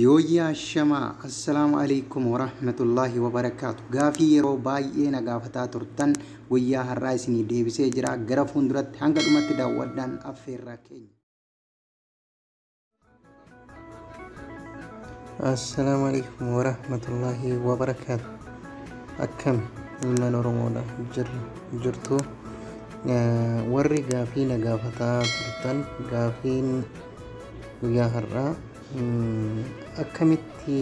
Yooyyaa shamaa assalaamu alaikum warahmatullaahi wabarakaatu gaafii yeroo baay'ee na gaafataa turtan guyyaa har'aa isinii deebisee jira gara fuulduratti hanga dhumatti daawwadhaan affeerraa keenya. Assalaamu alaikum warahmatullaahi wabarakaatu akkam ilmaan oromoodha jirru jirtu warri gaafii na gaafataa turtan gaafiin Guyyaa har'aa akkamitti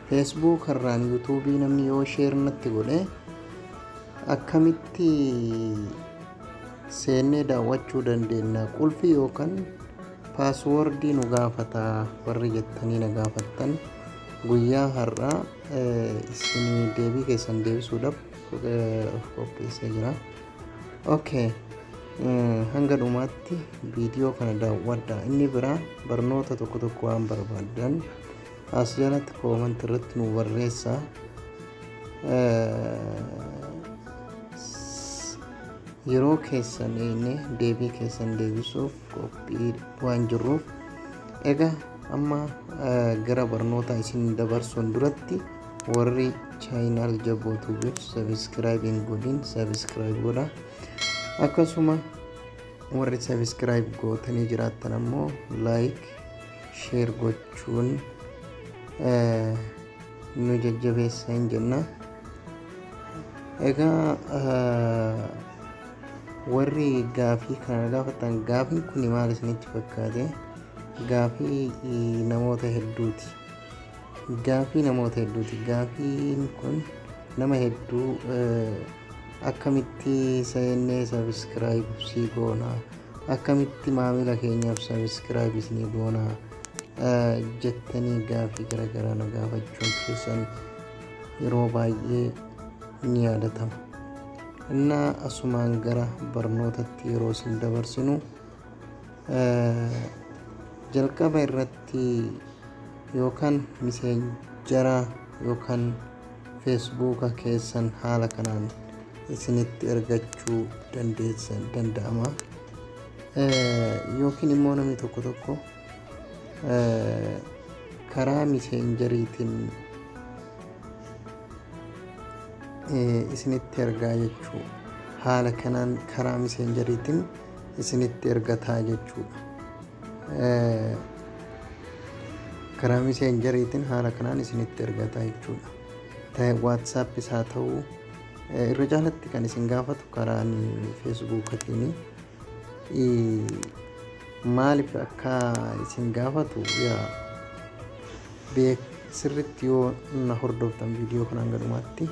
Facebook irraan YouTube namni yoo share natti godhe akkamitti seennee daawwachuu dandeenya qulfii yookaan paaswoordii nu gaafata warri jettanii na gaafattan guyyaa har'aa isin deebii keessan deebisuudhaaf of qopheessee jira. Okay. Mm, hanga dhumaatti viidiyoo kana daawwadha inni biraa barnoota tokko tokko waan barbaaddan as jalatti koomanti irratti nu barreessa yeroo keessan eegne deebii keessan deebisuuf qophii waan jirruuf egaa amma gara barnoota isin dabarsuun duratti Warri channel jaboo tubeef subscribe hin godhin subscribe godha. Akkasuma warri subscribe gootanii jiraattan ammoo like share gochuun eh, nu jajjabeessa hin jenna. Egaa eh, warri gaafii kana gaafatan gaafiin kun maal isinitti fakkaate? Gaafii eh, namoota hedduuti. Gaafii namoota hedduuti. Gaafiin kun nama hedduu akkamitti seennee sabiskiraayib sii goona akkamitti maamila keenyaaf sabiskiraayib isinii goona jettanii gaafii garaagaraa na gaafachuun keessan yeroo baay'ee ni yaadatama. Innaa asumaan gara barnootatti yeroo isin dabarsinu. jalqaba irratti yookaan miseenjara yookaan feesbuuka keessan haala kanaan isinitti ergachuu dandeessan danda'ama yookiin immoo namni tokko tokko karaa miseenjariitiin isinitti ergaa jechuu haala kanaan karaa miseenjariitiin isinitti ergataa jechuudha. Karaa miseenjariitiin haala kanaan isinitti ergataa jechuudha. Ta'e WhatsApp isaa ta'uu irra caalatti kan isin gaafatu karaa feesbuukatiin maaliif akka isin gaafatu yaa beek sirritti yoo na hordoftan viidiyoo kana hanga dhumaatti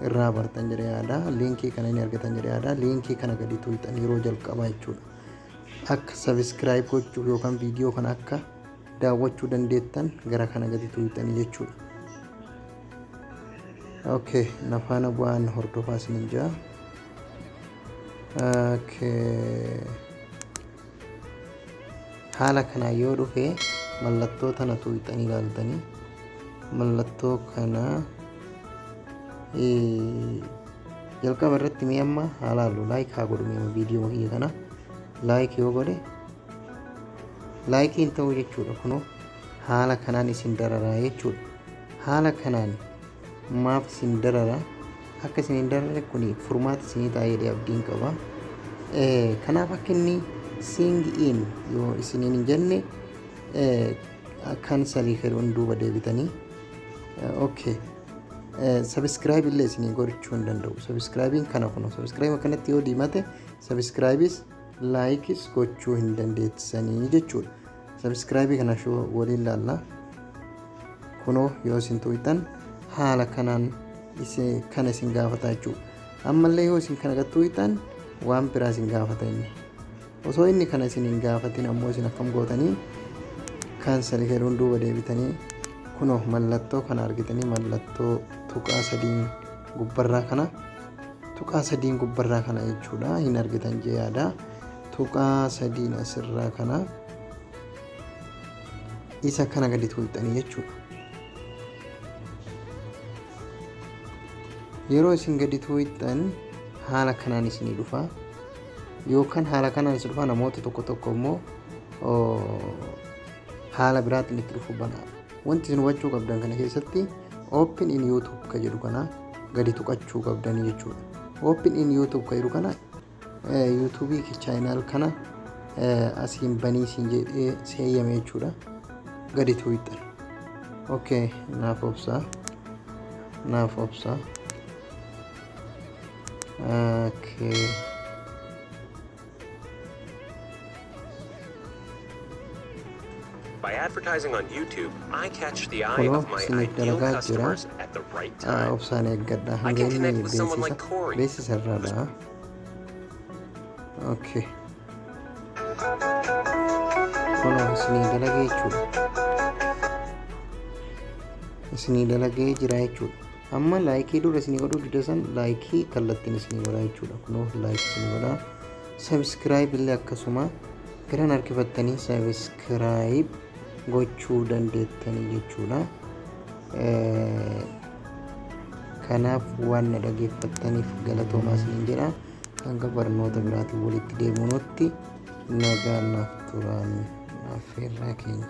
irraa bartan jedhee yaada liinkii kana ni argatan jedhee yaada liinkii kana gadi tuuxan yeroo jalqabaa jechuudha akka sabiskiraayib gochuuf yookaan viidiyoo kana akka daawwachuu dandeettan gara kana gadi tuuxan jechuudha okay na faana bu'aan hordofaa isinin jaa okay Haala kanaan yoo dhufe mallattoo tana tuuxxanii ilaaltanii mallattoo kana jalqaba irratti mee amma haa laallu laayik haa godhu mee viidiyoo kiyya kana laayik yoo godhe laayikiin ta'uu jechuudha kunoo haala kanaan isin dararaa jechuudha haala kanaan maaf isin darara akka isin hin dararre kun furmaata isinii ta'a jedhee abdiin qaba kanaaf akka inni sing in yoo isiniin hin jenne kan salii fedhuun duuba deebitanii okay sabiskiraayib illee isinii gochuu hin danda'u sabiskiraayibiin kana kun sabiskiraayib akkanatti yoo diimate sabiskiraayibis laayikis gochuu hin dandeessanii jechuudha Sabiskiraayibii kana shuu waliin laalla. Kunoo yoo isin tuuytan haala kanaan isin kan isin gaafata jechuudha. Ammallee yoo isin kana tuuytan waan biraa isin gaafata inni. Osoo inni kana isin hin gaafatin ammoo isin akkam gootanii kaansali jedhuun duuba deebitanii kunoo mallattoo kana argitanii mallattoo tuqaa sadiin gubbarraa kana tuqaa sadiin gubbarraa kana jechuudha hin argitan jee yaadaa. tuqaa sadiin asirraa kana isa kana gadi tuuxxanii jechuudha. Yeroo isin gadi tuuxxan haala kanaan isinii dhufa. Yookaan haala kanaan isin dhufa namoota tokko tokko immoo haala biraatiin itti dhufu bana. Wanti isin hubachuu qabdan kana keessatti open in YouTube ka jedhu kana gadi tuqachuu qabdan jechuudha. Open in YouTube ka jedhu kana YouTube ki channel kana asiin banii siin jedhee si eeyyame jechuudha gadi tuuxxan ok naaf obsaa naaf obsaa ok By advertising on YouTube, I catch the eye of my ideal customers at the right ah, time. Obsaan eeggadha. I can connect with someone like Corey. Beeksisa irraadha. Okay. Kunoo isinii dalagee jechuudha. Isinii dalagee jira jechuudha. Amma laayikii dura isinii godhuu dida san laayikii kallattiin isinii godhaa jechuudha. Kunoo laayikii isinii godhaa. Subscribe illee akkasuma garan harkifattanii subscribe gochuu dandeettanii jechuudha. Eh, Kanaaf waan na dhageeffattaniif galatoomaa isiniin jedha. Hanga barnoota biraatiin walitti deebinutti nagaan naaf turaa affeerraa keenya.